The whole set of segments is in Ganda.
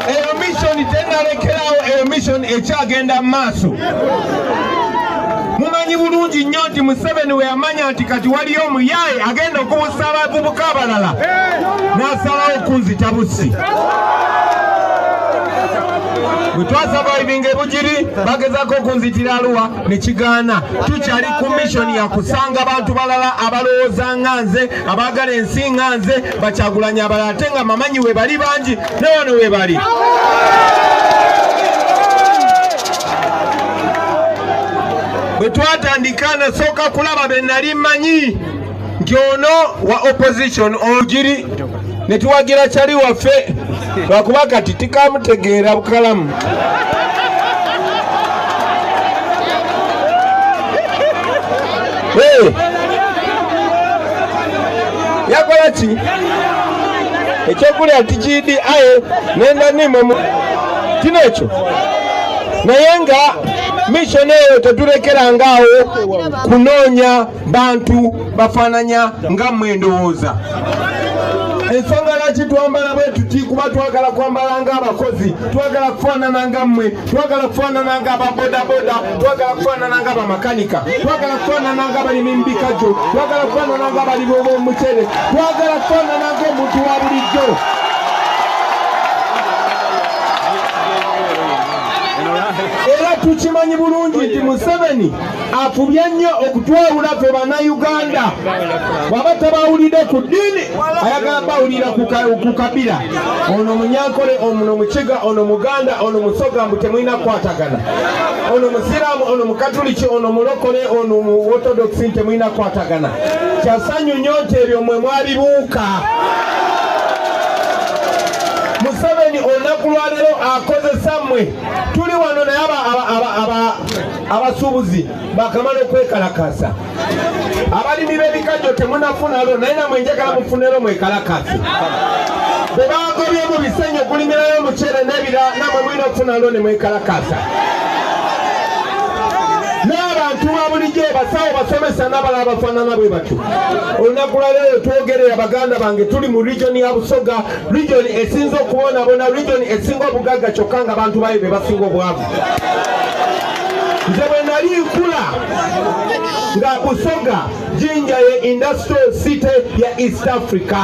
eyo misoni tenalekerawo eyo misoni ekyagenda mu maaso mumanyi bulungi nnyo nti museveni we yamanya nti kati waliyo omuyaaye agenda okubusa abavubuka abalala n'asalawo okunzita busi bwe twasavaivinga ebugiri bagezako okunzitira aluwa ne kigaana tukyali ku missoni ya kusanga bantu balala abalowooza nga nze abaagala ensi nga nze bakyagulanyi abalala ate nga mamanyi webali bangi ne wano webali bwe twatandika nasooka kulaba be nali mmanyi nti ono wa opposition ogiri ne tuwagira kyali waffe lwakuba kati tikamutegeera bukalamu yakola ki ekyokulya tikidi aye nenda nimo kino ekyo naye nga mishoni eyo tetulekerangaawo kunoonya bantu bafaananya nga mmwe endowooza ensonga lwaki twambala bwe tuti kuba twagala kwambala ng'abakozi twagala kufaanana nga mmwe twagala kufaanana nga ababodaboda twagala kufaanana nga bamakanika twagala kufaanana nga abalimi mu bikajjo twagala kufaanana nga abalimi ob'omucere twagala kufaanana ng'omuntu wa bulijjo era tukimanyi bulungi nti museveni afubye nnyo okutwawula fe bannayuganda bwaba tabawulidde ku ddiini ayagala bawulira ku kabira ono munyankole ono mukiga ono muganda ono musoga mbu temulina kukwatagana ono musiraamu ono mukatuliki ono mulokole ono mu ortodokisi temulina kukwatagana kyasanyu nnyo nti ebyo mwe mwabibuuka museveni olunaku lwalero akozesa mmwe tuli wano naye aba abasuubuzi bakamala okwekalakaasa abalimi b'ebikajjo temunafunalo naye namwe njagala mufunero mwekalakaase bwe bagobye mu bisenyi okulimirayo omuceere n'ebira namwe mulina okufunalo ne mwekalakaasa n'abantu ba bulijjo basawo basomesa n'abalala bafaanana bwe batyo olunaku lwaleero twogerera baganda bange tuli mu region ya busoga region esinza okubonaabona region esinga obugagga kyokka nga bantu bayo be basinga obwavu nze bwe nali nkula nga busoga jinja ye industrial city ya east africa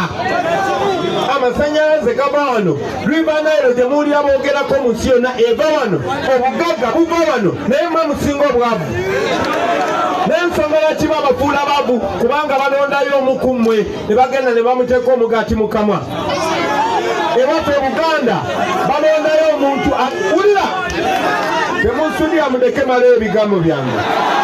amasanyalaze gava wano rivanayiro gye muwulira boogerako mu nsi yonna eva wano obugagga buva wano naye mwe musinga obwavu n'ensonga lwaki babafuula bavu kubanga balondayo omu ku mmwe ne bagenda ne bamuteeka omugaati mu kamwa ewaffe buganda balondayo omuntu wulira temunsudira mudeke mala ebigambo byange